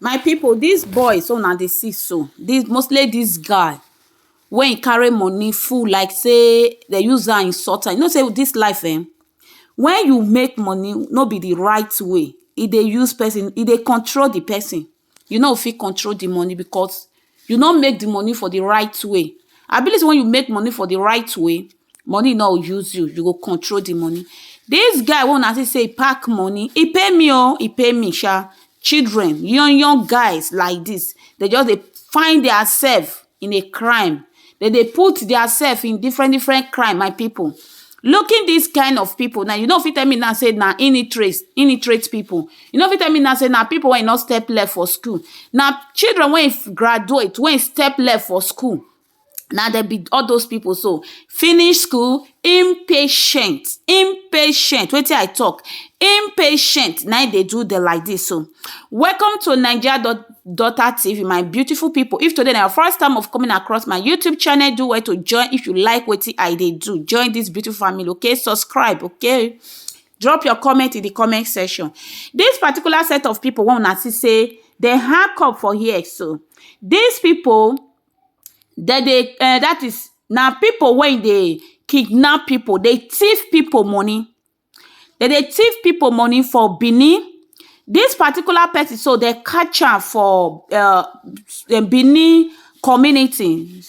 My people this boys wey una dey see so this mostly this guy wey him carry money full like say they use am insult am you know say this life eh when you make money no be the right way e dey use person e dey control the person you no go fit control the money because you no make the money for the right way abi this one wey you make money for the right way money no use you, you go control the money. This guy wey una see say e pack money, e pay me o, e pay me sha. Children, young young guys like this, dem just dey find their self in a crime. Dem dey put their self in different different crime, my people. Looking this kind of people now, you no fit tell me now say na illiterates, illiterate people. You no fit tell me now say na people wey no step leg for school. Na children wey graduate, wey step leg for school na dem be all those people so finish school impatient impatient wetin i talk impatient na im dey do dem like this so welcome to naija dot daughter tv my beautiful people if today na your first time of coming across my youtube channel do well to join if you like wetin i dey do join this beautiful family okay subscribe okay drop your comment in the comment section this particular set of people wey una see say dem hack up for here so these people dem dey um dat is na people wey e dey kidnap people dey thief people money dem dey thief people money for Benin this particular person so dem catch am for um Benin community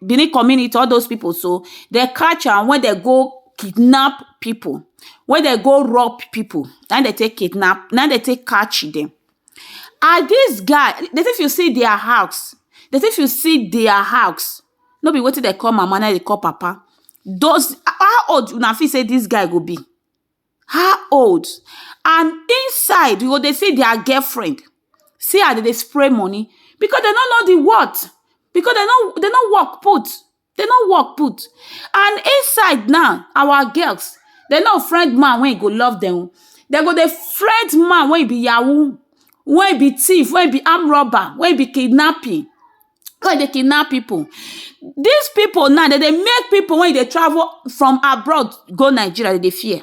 Benin community all those people so dem catch am when dem go kidnap people when dem go rob people na im dem take kidnap na im dem take catch dem and dis guy dey say if you see dia house dey say if you see dia house no be wetin dem call mama na im dem call papa does how old una fit say dis guy go be how old and inside you go dey see dia girlfriend see as dem dey spray money because dem no know di worth because dem no work put dey no work put and inside now our girls dey no friend man wey go love dem o dey go dey friend man wey be yahoo wey be thief wey be arm robber wey be kidnapping wey dey kidnap people dis people now dem dey make people wey dey travel from abroad go Nigeria dem dey fear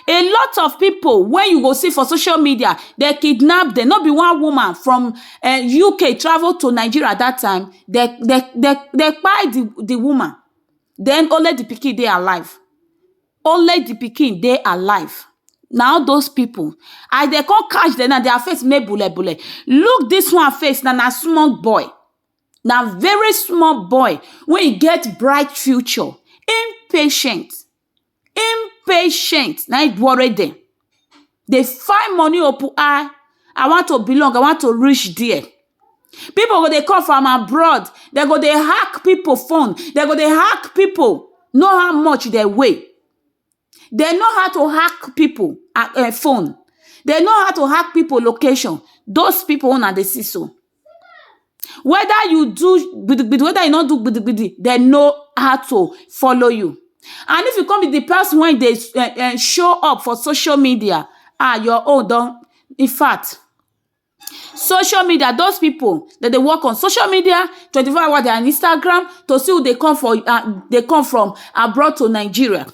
a lot of people wey you go see for social media dem kidnap dem no be one woman from UK travel to Nigeria that time dem dem dem dem kpai the the woman then only the pikin dey alive only the pikin dey alive na all those people as dem come catch dem now their face make bule bule look this one face now na small boy na very small boy wey e get bright future him patient impatient na im worry dem dey find money oh put eye I want to belong I want to reach there people go dey come from abroad dem go dey hack people phone dem go dey hack people know how much dem weigh dem know how to hack people phone dem know how to hack people location those people wey una dey see so weda you do gidi gidi weda you no do gidi gidi dey know how to follow you and if you come be di pesin wey dey um show up for social media um your own don infact social media dose pipo dem dey work on social media twenty four hours dia instagram to see who dey come for um dey come from abroad to Nigeria.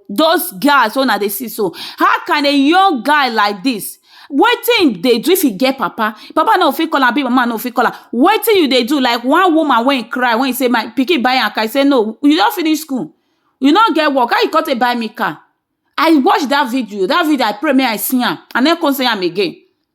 those guys wey una dey see so, how can a young guy like dis wetin im dey do if im get papa, im papa no go fit call am abi im mama no go fit call am, wetin you dey do like one woman wey im cry wey im sey my pikin buy am car, e sey no, you don finish school, you no get work, how you con take buy me car, I watch dat video, dat video I pray mey I see am, I no con see am again.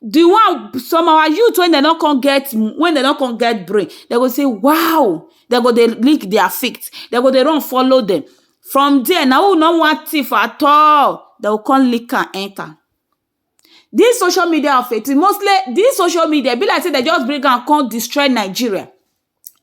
di one some our youth wey dem no come get wey dem no come get brain dem go say waoo dem go dey lick dia feet dem go dey run follow dem from dia na who no wan thief at all dem go come lick am enter dis social media of a tin mostly dis social media e be like say dem just bring am come destroy Nigeria.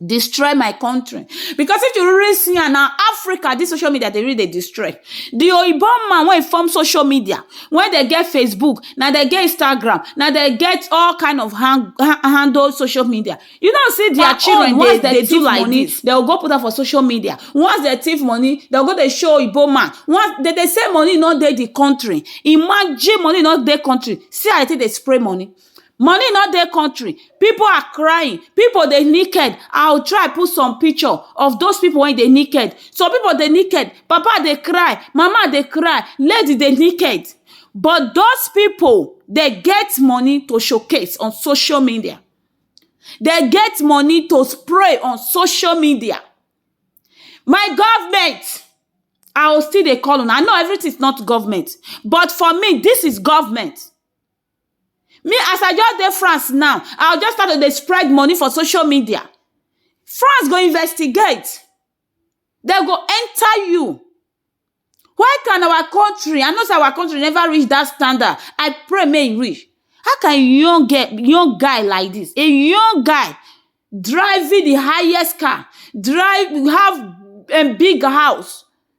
destroy my country because if you really see am na africa this social media dey really dey destroy the oyibo man wey form social media when they get facebook na they get instagram na they get all kind of hand, ha- handle social media you know see their Their children own, once they- they they do thief like money this. they will go put am for social media once they thief money they go dey show oyibo man once they dey say money no dey the country imagine money no dey country see how they take dey spray money Money no dey country, pipu are crying, pipu dey naked, I will try put some picture of those pipu wey dey naked, some pipu dey naked, papa dey cry, mama dey cry, lady dey naked but those pipu dem get money to show case on social media, dem get money to spray on social media, my government I will still dey call una, I know everything is not government but for me this is government. Me as I just dey France now, I go just start to dey spread money for social media. France go investigate, dem go enter you. Why can our country, I know sey our country never reach dat standard, I pray make e reach. How can a young girl, young guy like dis, a young guy driving di highest car, drive, have big house,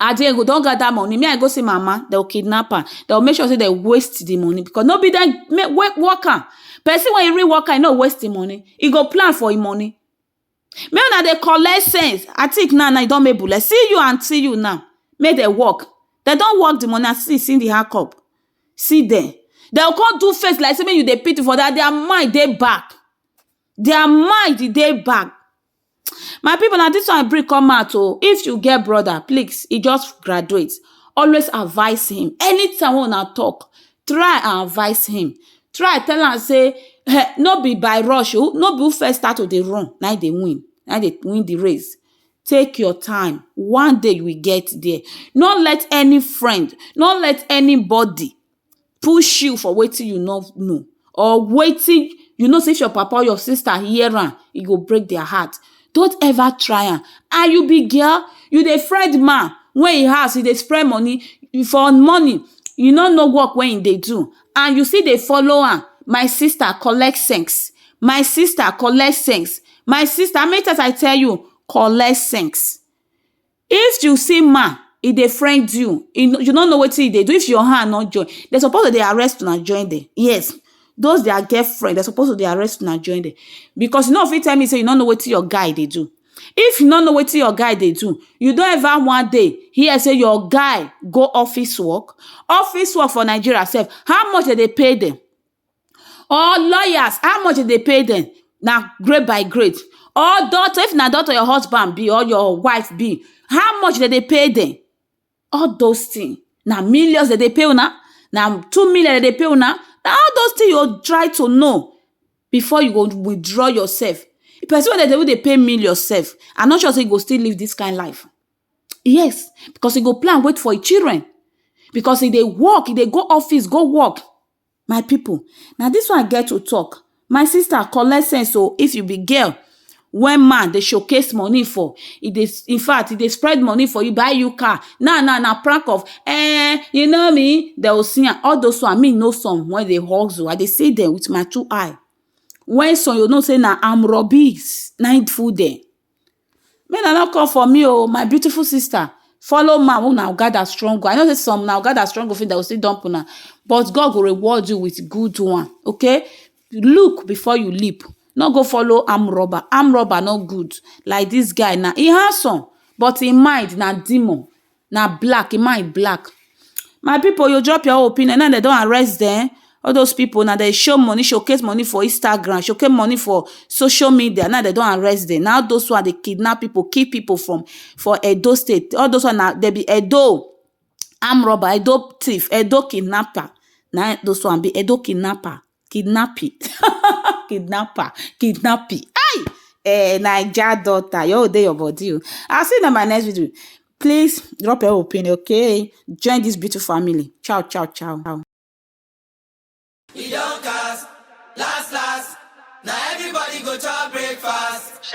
as dem go don gather money me I go see my mama dem go kidnap am dem go make sure say dem waste the money because no be dem work am person wey really work am e no go waste him money e go plan for him money make una dey collect sense I think now na e don make bole see you and see you now make dem work dem don work the money as you see the hand cup see dem dem go come do face like say make you dey pity for dem their mind dey back their mind dey back My pipu na dis one I bring come out o, if you get brother please e just graduate always advice him anytime wey una talk try advice him try tell am sey um no be by rush o no be who first start to dey run na him dey win na him dey win de race take your time one day you will get there no let any friend no let anybody push you for wetin you no know or wetin you know sey if your papa or your sister hear am, e go break their heart. Don't ever try am. And you be girl, you dey friend man wey e house e dey spray money for morning. You no know work wey e dey do and you still dey follow am. My sister collect sense. My sister collect sense. My sister how many times I tell you? Collect sense. If you see man, e dey friend you, e no, you no know wetin e dey do, if your hand no join, de suppose to dey arrest una join dem, yes, dose dia girlfriend, de suppose to dey arrest una join dem, because you no go fit tell me sey you no know wetin your guy dey do. If you no know wetin your guy dey do, you don ever one day hear sey your guy go office work? Office work for Nigeria sef, how much de dey pay dem? or lawyers how much dem dey pay dem na grade by grade or doctor if na doctor your husband be or your wife be how much dem dey pay dem all those thing na millions dem dey pay una na two million dem dey pay una na all those thing you go try to know before you go withdraw yourself person wey dem dey even dey pay million self i no sure sey e go still live this kind life yes because e go plan wait for e children because e dey work e dey go office go work My pipu, na dis one I get to talk. My sister collect sense oh. If you be girl wey man dey showcase money for, e dey in fact, e dey spread money for you, buy you car. Now now, na prank of um you know me, de o see am. All dos one, me know some wey dey hustle. I dey see dem with my two eye. When some you know sey na arm robberies na im full dere. Make una no come for me o my beautiful sister follow man wey una gather strong o I know sey some una go gather strong o dem go still dump una but God go reward you with good one okay look before you leap no go follow armed robber, armed robber no good like dis guy now e handsome but im mind na demon na black, im mind black. My pipu you drop your own opinion now dem don arrest dem all those pipu now dem dey show money showcase money for Instagram showcase money for social media now dem don arrest dem na all those ones dey kidnap pipu kill pipu from for Edo state all those ones na dem be Edo armed robbers Edo thief Edo kidnapper na im those ones be Edo kidnapper. kidnapping kidnapper kidnapping hey eh naija daughter your own dey your body o i see you in my next video please drop your opinion okay join this beautiful family ciao ciao ciao. e don cast last last na everybody go chop breakfast.